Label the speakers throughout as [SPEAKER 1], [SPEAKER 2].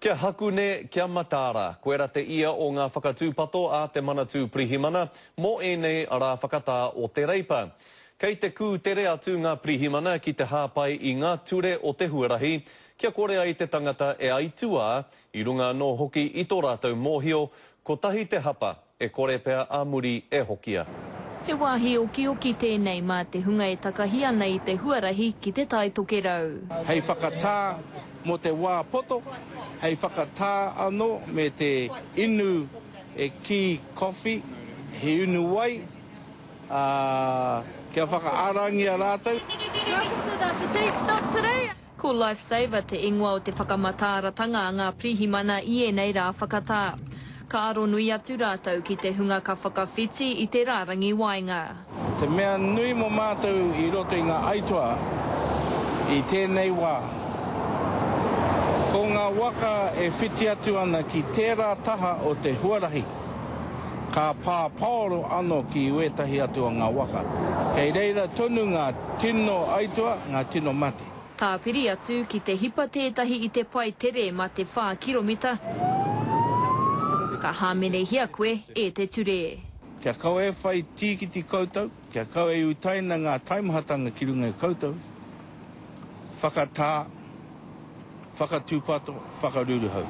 [SPEAKER 1] Kia Hakune, kia Mataara, koe ra te ia o nga whakatupato a te Manatū Pirihimana mo enei ra whakatā o te Reipa. Kei te kū tere atu nga Pirihimana ki te hāpai i nga ture o te huarahi kia kore ai te tangata e aituā, i runga anō hoki i to ratou mōhio, kotahi te hapa, E kore pea a muri e hokia. He wāhi
[SPEAKER 2] okioki tēnei mā te hunga e takahi ana i te huarahi ki te Tai Tokerau. Hei whakatā
[SPEAKER 3] mō te wā poto, hei whakatā anō me te inu e kī kowhi, he inu wai, ā, kia whakaarangia rātou.
[SPEAKER 2] Ko Lifesaver te ingoa o te whakamataaratanga a ngā pirihimana i ēnei rā whakatā. Ka aro nui atu rātou ki te hunga ka whakawhiti i te rārangi waenga. Te mea
[SPEAKER 3] nui mō mātou i roto i ngā aituā i tēnei wā, ko ngā waka e whiti atu ana ki tērā taha o te huarahi. Ka pā paoro ano ki wētahi atu o ngā waka. Kei reira tonu ngā tino aituā, ngā tino mate. Tāpiri atu
[SPEAKER 2] ki te hipa tētahi i te pae tere ma te whā kiromita, ka hāmenehia koe e te ture. Kia kau e
[SPEAKER 3] whai tīkiti koutou, kia kau e utaina ngā taimahatanga ki runga i koutou, whakatā, whakatūpato, whakaruruhau.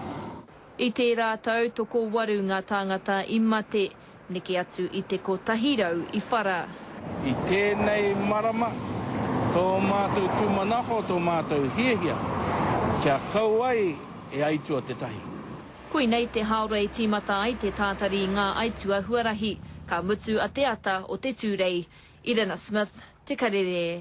[SPEAKER 3] I
[SPEAKER 2] tērā tau tokowaru ngā tāngata i mate, neke atu i te kotahi rau i whara. I
[SPEAKER 3] tēnei marama, tō mātou tūmanako, tō mātou hiahia, kia kau ai e aitua tētahi. Koinei te
[SPEAKER 2] haora i tīmata ai te tātari i ngā aitua huarahi, ka mutu a Te Ata o te Tūrei, Irena Smith, Te Karere.